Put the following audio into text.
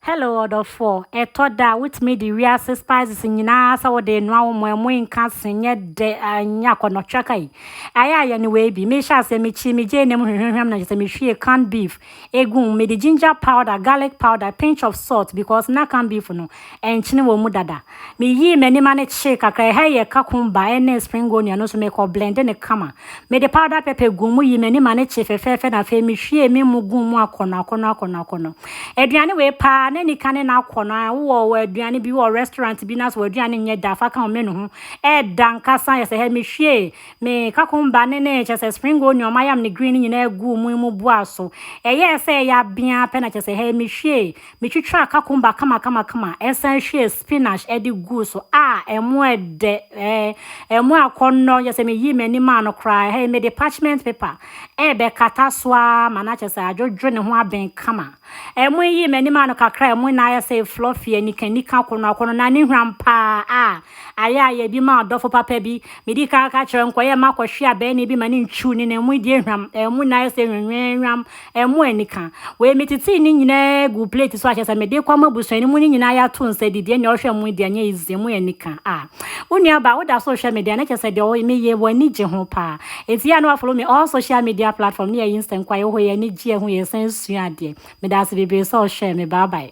Hello ɔdɔfoɔ, ɛtɔ da a wotumi de wiase spices nyinaa sɛ wode renoa wo mmoa mu nka se nyɛ dɛ nyɛ akɔnɔtwerɛ kai. Ayɛ a yɛne wei bi. Mehyɛ aseɛ mekyi me gyeene mu hwehwehwɛm na kyesɛ mehwie canned beef egu mu. Mede ginger powder, garlic powder, pinch of salt because na canned beef no ɛnkyene wɔ mu dada. Meyii m'anim ano kyee kakra, ɛha yɛ kakumba ne spring onion no, so mekɔ blende no kama. Mede powder pepper guu mu, yii m'anim ano kyee fɛfɛɛfɛ na afei mehwiee me mu guu mu akɔnnɔ akɔnnɔ akɔnnɔ akɔnnɔ. Aduane wei paa, na anika ne n'akɔnnɔ a, wowɔ wɔ aduane bi wɔ restaurant bi no ase, w'aduane nyɛ da, fa ka wo menu ho, ɛɛda ankasa, yɛ sɛ hɛ, mehwiee me kakumba ne ne, kyɛ sɛ spring onion, mayam ne green no nyinaa guu mu, emu buaa so. Ɛyɛɛ sɛ ɛyɛ abeaa pɛ na kyɛ sɛ hɛ, mehwiee Mitwitwaa kakumba kamakamakama, san hwiee spinach de guu so. Ah, ɛmo yɛ dɛ! Ɛɛ, ɛmo akɔnnɔ! Kyerɛ sɛ miyii m'ani maa no koraa. Ɛha yi, mede parchment paper rebɛkata so ara ma no akyerɛ sɛ adwodwo ne ho aben kama. Ɛmo yii m'ani maa no kakra a, ɛmo na ayɛ sɛ fluffy anikanika akɔnnɔakɔnnɔ, na ne hwam paa. Ah, ayɛ a yɛbi maa ɔdɔfo papa bi. Midii kan ka kyerɛɛ no, nkɔyɛ mma kɔhwee abɛɛnee bi ma no ntwiw ne nan mu. Yi deɛ hwam! Ɛmo na ayɛ sɛ nwenweenwam Ɛmmoa anika. Wei metetee ne nyinaa guu plate so a kyerɛ sɛ mede rekɔ ama abusua no mu no nyinaa yɛato nsa didi. Ɛnneɛ ɔhwɛ mo deɛ ɛnyɛ easy, ɛmmoa anika. Ah, wo nuabaa woda so rehwɛ me deɛ a na kyerɛ sɛ deɛ meyɛ w'ani gye ho paa. Enti yɛ a na woafollow me all social media platform ne yɛyɛ nsɛnkwa, yɛwɔ hɔ, yɛn ani gye, yɛhu, yɛsan sua adeɛ. Medaase bebree sɛ wohwɛɛ me. Bye bye.